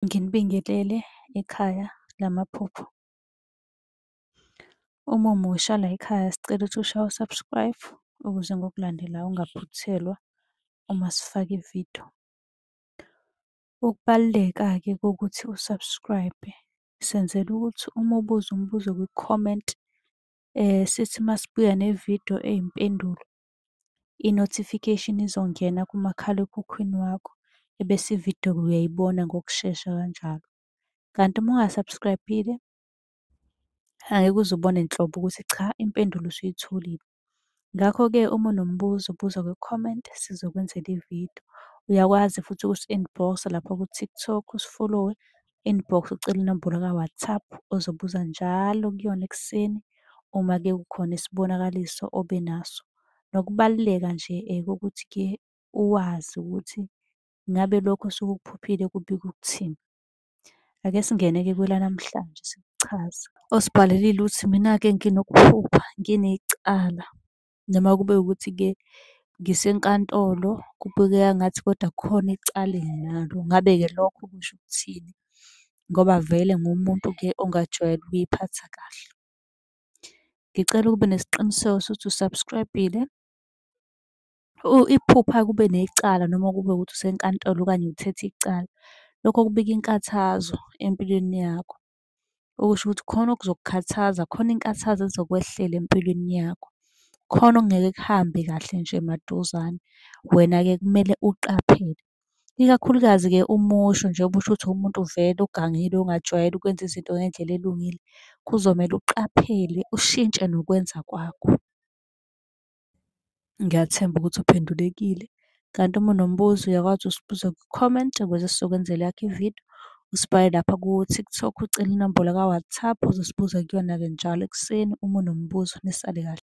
Nginibingelele ekhaya lamaphupho. Uma umusha layikhaya sicela ukuthi ushaye u-subscribe ukuze ngokulandelayo ungaphuthelwa uma sifaka ividiyo. Ukubaluleka-ke kokuthi u-subscribe senzela ukuthi uma ubuza umbuzo kwi-comment sithi masibuya nevidiyo eyimpendulo i-notification izongena kumakhalekhukhwini wakho ebese ividiyo uyayibona ngokushesha kanjalo. Kanti uma unga-subscribe-ile angeke uze ubone nhlobo ukuthi cha impendulo usuyitholile. Ngakho-ke uma unombuzo buza kwi-comment sizokwenzela ividiyo. Uyakwazi futhi ukusi-inbox-a lapha ku-TikTok usifolowe inbox ucele inombolo ka-WhatsApp ozobuza njalo kuyona ekuseni uma ke kukhona isibonakaliso obe naso. Nokubaluleka nje kokuthi ke uwazi ukuthi ngabe lokho osuke ukuphuphile kubika ukuthini. Ake singene-ke kwelanamhlanje sikuchaze. Osibhalelile uthi mina-ke nginokuphupha nginecala. noma kube ukuthi-ke ngisenkantolo kubukeka ngathi kodwa kukhona icala enginalo. Ngabe-ke lokho kusho ukuthini ngoba vele ngumuntu-ke ongajwayele ukuy'phatha kahle. Ngicela ukube nesiqiniseko sokuthi u-subscribe-ile. Iphupha kube necala noma kube ukuthi usenkantolo okanye uthethe icala, lokho kubika inkathazo empilweni yakho. Okusho ukuthi khona okuzokukhathaza, khona inkathazo ezokwehlela empilweni yakho. Khona okungeke kuhambe kahle nje maduzane. Wena-ke kumele uqaphele, ikakhulukazi-ke uma usho njengoba usho ukuthi uwumuntu vele ogangile ongajwayele ukwenza izinto ngendlela elungile. Kuzomele uqaphele ushintshe nokwenza kwakho. Ngiyathemba ukuthi uphendulekile. Kanti uma unombuzo uyakwazi usibuza kwi-comment ukuze sizokwenzela eyakho ividiyo. Usibhale lapha ku-TikTok ucele inombolo ka-WhatsApp uzosibuza kuyona-ke njalo ekuseni uma unombuzo. Nisale kahle.